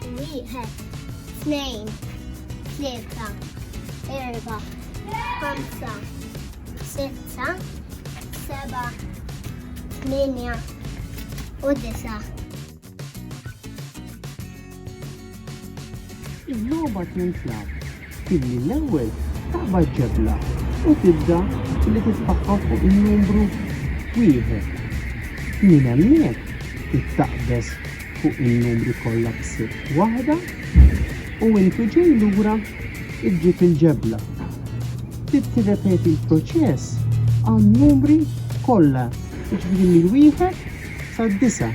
Wieħed, tnejn, tlieta, erba, ħamsa, sitta, seba, tminja u disa. Iż-żobot minn flab Billi l-ewwel taqbad ġebla u tibda billi titfaqqgħu fuq in-numru wieħed. Minn hemmhekk ittaqbeż fuq in-numri kollha b'sitt waħda u intu ġej lura ġġib il-ġebla. Trid tirrepeti l-proċess għan-numri kollha, jiġifieri mill-wieħed sad-disa'.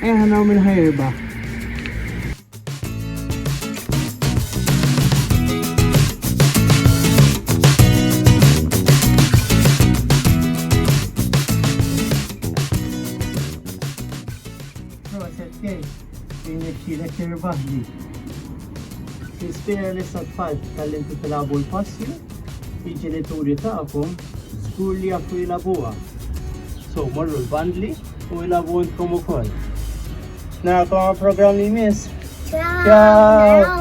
Ejja ħa naraw min ħa jirbaħ. faċli. Tispira li sa tfal tal-inti tilabu l-passi, jiġi li turi ta'kom Żgur li jafu jilagħbuha. So morru l-bandli u jilagħbu intkom ukoll. Narakom għal programm li jmiss. Ciao.